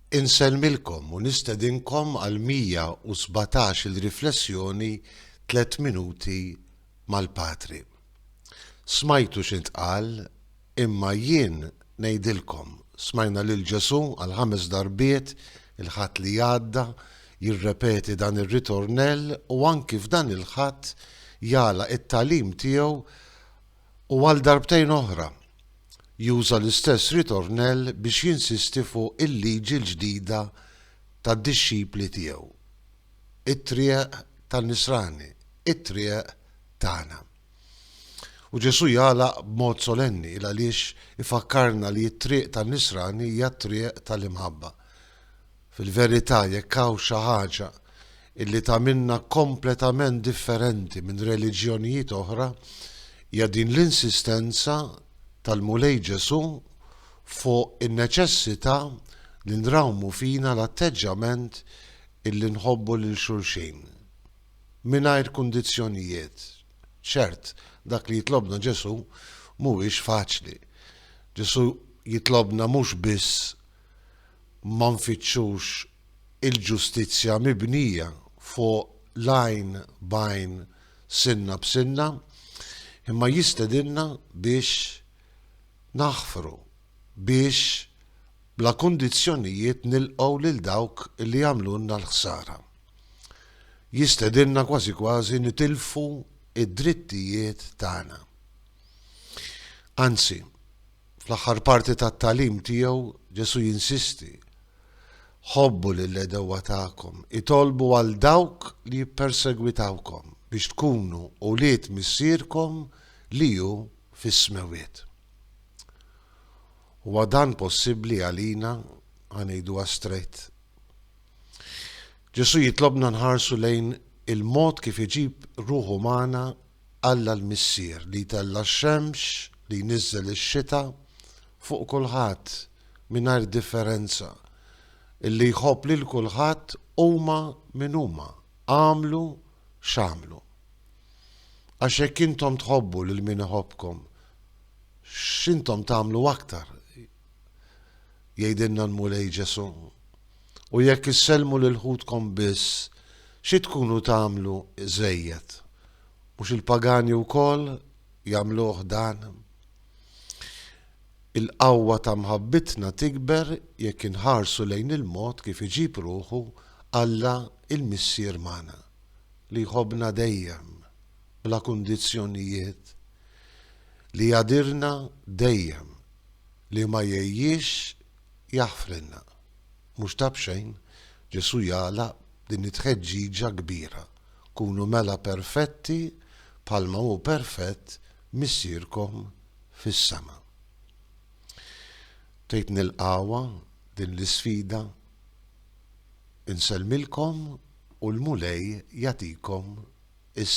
Insellmilkom u nistedinkom għal 117 il-riflessjoni Tliet Minuti mal-Patri. Smajtu x'intqal, imma jien ngħidilkom, smajna lil Ġesù għal ħames darbiet il-Ħadd li għadda jirrepeti dan ir-ritornell u anki f'dan il-Ħadd jagħlaq it-tagħlim tiegħu u għal darbtejn oħra juża l-istess ritornell biex jinsisti fuq il-liġi l-ġdida tad-dixxipli tiegħu, it-triq tan-nisrani, it-triq tagħna. U Ġesù jagħlaq b'mod solenni, il għaliex ifakkarna li t-triq tan-nisrani hija t-triq tal-imħabba. Fil-verità, jekk hawn xi ħaġa illi tagħmilna kompletament differenti minn reliġjonijiet oħra, hija din l-insistenza tal-Mulej Ġesù fuq in-neċessità li nrawmu fina l-atteġġjament illi nħobbu lil xulxin. Mingħajr kundizzjonijiet. Ċert, dak li jitlobna Ġesù mhuwiex faċli. Ġesù jitlobna mhux biss ma nfittxux il-ġustizzja mibnija fuq l-għajn b'għajn sinna b'sinna, imma jistedinna biex naħfru, biex bla kundizzjonijiet nilqgħu lil dawk li għamlulna l-ħsara. Jistedinna kważi kważi nitilfu d-drittijiet tagħna. Anzi, Fl-aħħar parti tat-tagħlim tiegħu, Ġesù jinsisti, Ħobbu lill-għedewwa tagħkom, itolbu għal dawk li jippersegwitawkom, biex tkunu ulied Missierkom li hu fis-Smewwiet. Huwa dan possibbli għalina? Ħa ngħiduha straight. Ġesù jitlobna nħarsu lejn il-mod kif iġib ruħu magħna Alla l-Missier li jtella' x-xemx, li jniżżel ix-xita fuq kulħadd mingħajr differenza, illi jħobb lil kulħadd huma min huma, agħmlu x'agħmlu. Għax jekk intom tħobbu lil min iħobbkom, x'intom tagħmlu aktar jgħidilna l-Mulej Ġesù. U jekk issellmu lil ħutkom biss, xi tkunu tagħmlu żejjed? Mhux il-pagani wkoll jagħmluh dan? Il-qawwa ta' mħabbitna tikber jekk inħarsu lejn il-mod kif iġib ruħu Alla il-Missier magħna, li jħobbna dejjem, bla kundizzjonijiet, li jgħadirna dejjem li ma jgħejjiex jaħfrilna. Mhux ta' b'xejn, Ġesù jagħlaq b'din it-tħeġġiġa kbira, Kunu mela perfetti bħalma hu perfett Missierkom fis-sema. Tgħid nilqgħuha din l-isfida? Insellmilkom u l-Mulej jagħtikom is-saħħa.